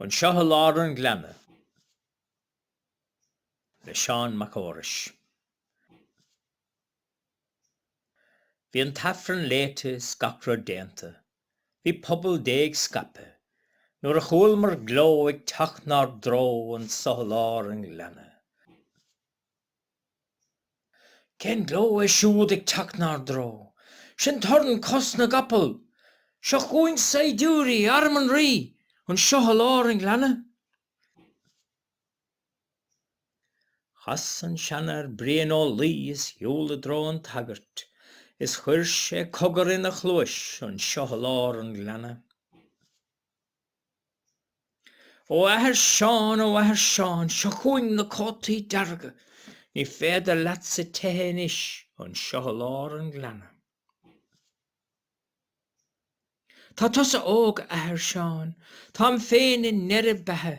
Anseo i lár an ghleanna. Le Seán Mac Fheorais. Bhí an tAifreann léite is gach rud déanta. Bhí pobal Dé ag scaipeadh. Nuair a chualamar gleo ag teacht 'nár dtreo, Anseo i lár an ghleanna. Cén gleo é siúd ag teacht 'nár dtreo? Sin torann cos na gcapall! Seo chugainn saighdiúirí, arm an Rí, anseo i lár an ghleanna. Chas an seanfhear, Brian Ó Laoi, is shiúil i dtreo an tsagairt, is chuir sé cogar ina chluais, anseo i lár an ghleanna. Ó athair Seán, ó athair Seán, seo chugainn na cótaí dearga, ní féidir leatsa teitheadh anois anseo i lár an ghleanna. Tá tusa óg, a athair Seán, táim féin i ndeireadh beatha,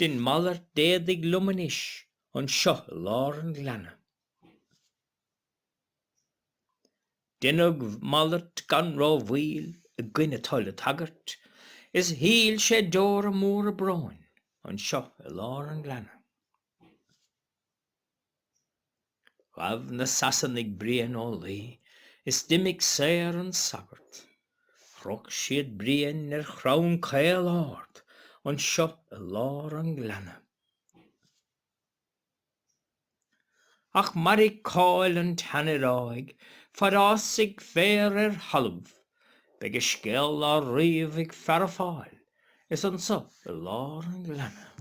dein malairt d'éadaigh liom anois anseo i lár an ghleanna. Deineadh malairt gan rómhoill i gcoinne toil an tsagairt, is shil sé deora móra bróin anseo i lár an ghleanna. Ghabh na Sasanaigh Brian Ó Laoi is d'imigh saor an sagart. Chroch siad Brian ar chrann caol ard anseo i lár an ghleanna. Ach mairfidh cáil an tseanfhir áigh fad fhásfaidh féar ar thalamh, beidh a scéal á ríomh ag Feara Fáil is anseo i lár an ghleanna.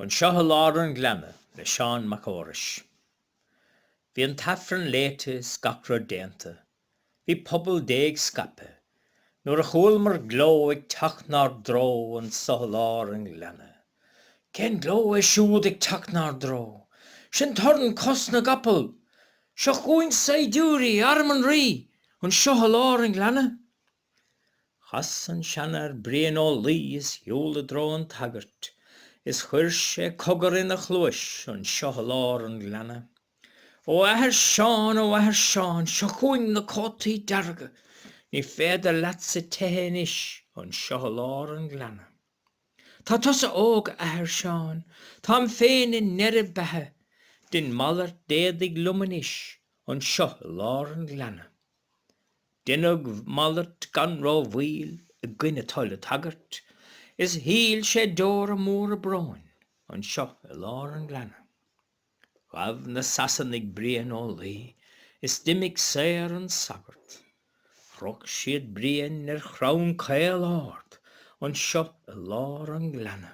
Anseo i Lár an Ghleanna le Seán Mac Fheorais. Bhí an tAifreann léite is gach rud déanta. Bhí pobal Dé ag scaipeadh nuair a chualamar gleo ag teacht 'nár dtreo anseo i lár an ghleanna. Cén gleo é siúd ag teacht 'nár dtreo? Sin torann cos na gcapall! Seo chugainn saighdiúirí, arm an Rí, anseo i lár an ghleanna. Chas an Seanfhear Brian Ó Laoi is shiúil i dtreo an tsagairt, is chuir sé cogar ina chluais anseo i lár an ghleanna. Ó Athair Seán, Ó Athair Seán, seo chugainn na cótaí dearga, ní féidir leatsa teitheadh anois anseo i lár an ghleanna. Tá tusa óg, a Athair Seán, táim féin i ndeireadh beatha, dein malairt d'éadaigh liom anois anseo i lár an ghleanna. Deineadh malairt gan ró mhoill i gcoinne toil an tsagairt is shil sé deora móra bróin anseo i lár an ghleanna. Ghabh na Sasanaigh Brian Ó Laoi is d'imigh saor an sagart. Chroch siad Brian ar chrann caol ard anseo i lár an ghleanna.